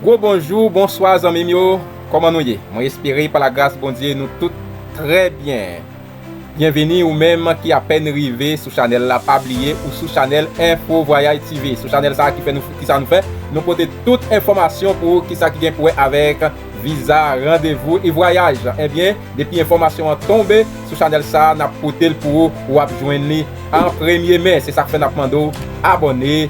Gwo bonjou, bonswa zanmim yo, kòman nou ye? Mwen espere pa la gras Bondye nou tout trè byen. Byenvini ou menm ki apèn rive sou chanèl la pa bliye ou sou chanèl Info Voyage TV. Sou chanèl sa ki fè nou kisa nou fè, nou pote tout enfòmasyon pou ou kisa ki gen pou wè avèk. viza, randevou e vwayaj ebyen depi enfòmasyon an tonbe sou chanèl sa nap potel pou ou wap jwenn li an premye men se sak fè nap mande w abòne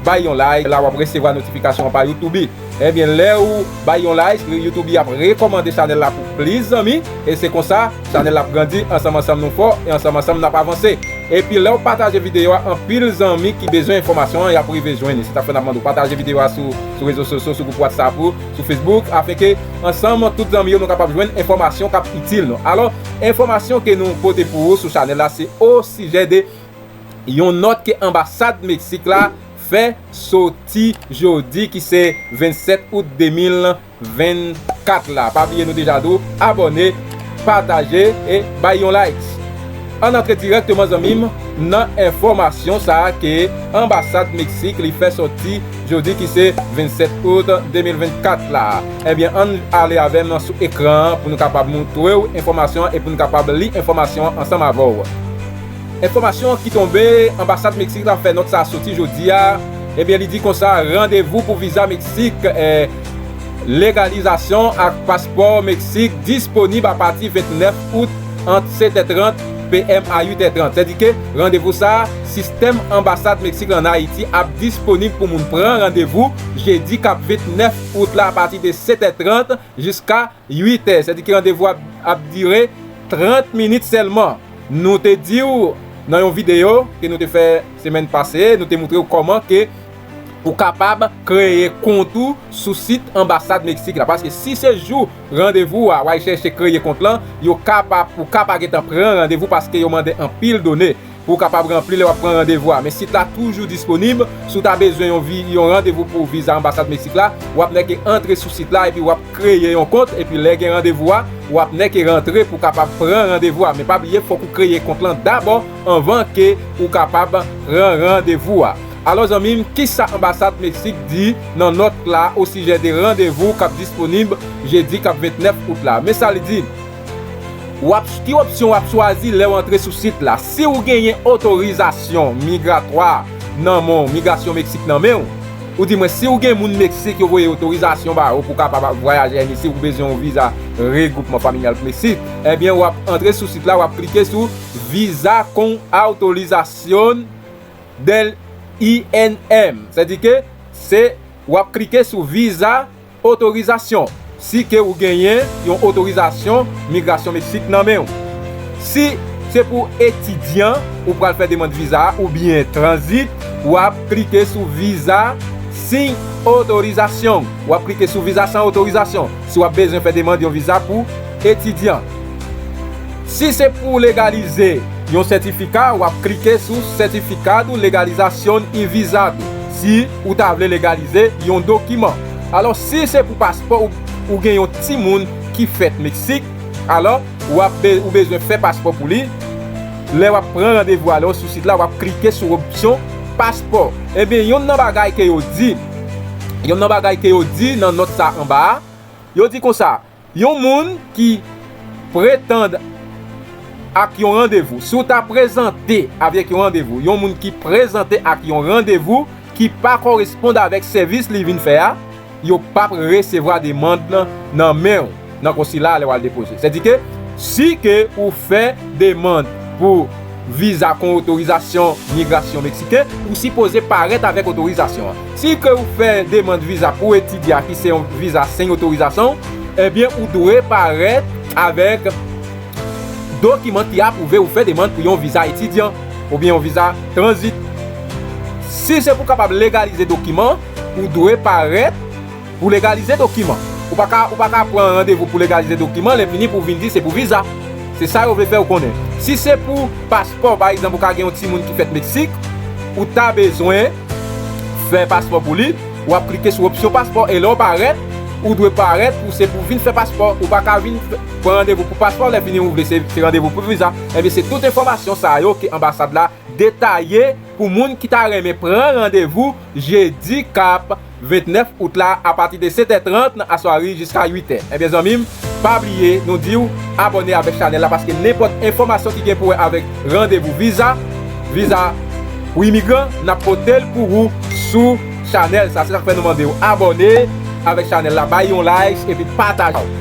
bay yon like la wap resevwa notifikasyon an pa youtube ebyen lèw bay yon like youtube ap rekòmande chanèl la pou plis zanmi e se konsa chanèl la ap grandi ansanm ansanm nou fò e ansanm ansanm nap avanse epi lèw pataje videyo a anpil zanmi ki bezwen enfòmasyon an yap rive jwenn li se sak fè nap mande w pataje videyo a sou. sou rezo sosyo sou gwoup whatsapp ou sou facebook afin ke ansanm tout zanmi yo nou kapab jwenn enfòmasyon kap itil nou alò enfòmasyon ke nou pote pou ou sou chanèl la se o sijè de yon nòt ke anbasad meksik la fè soti jodi ki se 27 out 2024 la pa bliye nou deja di w abòne pataje e bay yon likes. Ann antre dirèkteman zanmi m nan enfòmasyon sa ke anbasad Meksik li fè sòti jodi ki se 27 out 2024 la. Ebyen ann ale avè m sou ekran an pou nou kapab montre w enfòmasyon an e pou n kapab li enfòmasyon an ansanm avè w. Enfòmasyon ki tonbe, anbasad Meksik la fè nòt sa sòti jodi a, ebyen li di konsa randevou pou viza Meksik, legalizasyon ak paspò Meksik disponib apati 29. Out, ant 7 è 30 PM a 8 è 30, sèdi ke randevou sa a, sistèm anbasad Meksik la ann Ayiti ap disponib pou moun pran randevou jedi k ap 29 out la apati de 7 è 30 jiska 8 è, sèdi ke randevou a ap dire 30 minit sèlman. Nou te di w nan yon videyo ke nou te fè semèn pase, nou te moutre w kòman ke ou kapab kreye kont ou sou sit anbasad Meksik la, paske si se jou Randevou a way chèche kreye kont lan, yo ka pa ou ka pa gentan pran randevou paske yo mande anpil done pou ou kapab ranpli lè wap pran randevou a men sit la toujou disponib si w ta bezwen yon vi yon randevou pou viza anbasad Meksik la wap nè ke antre sou sit la epi wap kreye yon kont epi lè gen randevou a wap nè ke rantre pou kapab pran randevou a men pa bliye fòk ou kreye kont lan dabò anvan ke ou kapab pran randevou a. Alò zanmi m, kisa anbasad Meksik di nan nòt la osijè de randevou k ap disponib jedi k ap 29 out la? Men sa li di, W ap Ki opsyon w ap chwazi lè w antre sou sit la? Si w genyen otorizasyon migratwa nan men w, migrasyon Meksik nan men w, ou di mwen si w gen moun Meksik yo voye otorizasyon ba ou pou w kapab ap vwayaje Ayiti si w bezwen yon viza regwoupman familyal pou Meksik, ebyen w ap antre sou sit la, w ap klike sou Visa con autorización. del INM se di ke se wap klike sou viza otorizasyon si ke ou genyen yon otorizasyon migrasyon Meksik nan menw si se pou etidyan ou pral fè demand viza a oubyen tranzit wap klike sou viza sin otorizasyon wap klike sou viza san otorizasyon si wap bezwen fè demand yon viza pou etidyan. Si se pou w legalize yon sètifika, w ap klike sou Certificado Legalización y Visado si ou ta vle legalize yon dokiman. Alò si se pou paspò ou ou gen yon timoun ki fèt Meksik, alò w ap ou bezwen fè paspò pou li, lè w ap pran randevou alò sou sit la w ap klike sou opsyon paspò. Ebyen yonn nan bagay ke yo di, yonn nan bagay ke yo di nan nòt sa anba a, yo di konsa. Yon moun ki pretand ak yon randevou. Si w ta prezante avèk yon randevou, yon moun ki prezante ak yon randevou ki pa kòrespond avèk sèvis li vin fè a, yo p ap resevwa demand lan nan men w nan konsila a lè w al depoze. Sèdike, si ke ou fè demand pou. Viza kon otorizasyon migrasyon meksiken, ou sipoze parèt avèk otorizasyon an. Si ke ou fè demand viza pou etidya ki se yon viza sen otorizasyon, ebyen ou dwe parèt avèk dokiman ki apwouve ou fè demand pou yon viza etidyan oubyen yon viza tranzit. Si se pou kapab legalize dokiman, ou dwe parèt. Pou legalize dokiman. Ou pa ka ou pa ka pran randevou pou legalize dokiman lè fini pou vin di se pou viza. Se sa yo vle fèw konnen. Si se pou paspò pa egzanp ou ka gen yon timoun ki fèt Meksik ou ta bezwen fè paspò pou li, wap klike sou opsyon paspò e lè w parèt ou dwe parèt pou se pou vin fè paspò. Ou pa ka vin pran randevou pou paspò lè fini ou vle se se randevou pou viza. Ebyen se tout enfòmasyon sa yo ke anbasad la detaye pou moun ki ta renmen pran randevou jedi kap 29 out la apati de 7 è 30 nan aswari jiska 8 è ebyen zanmim pa bliye nou diw abòne avèk chanèl la paske nenpòt enfòmasyon ki gen pou wè avèk randevou viza viza pou imigran nap potel pou ou sou chanèl sa se sak fè nou mandew abòne avèk chanèl la bay yon like epi pataje.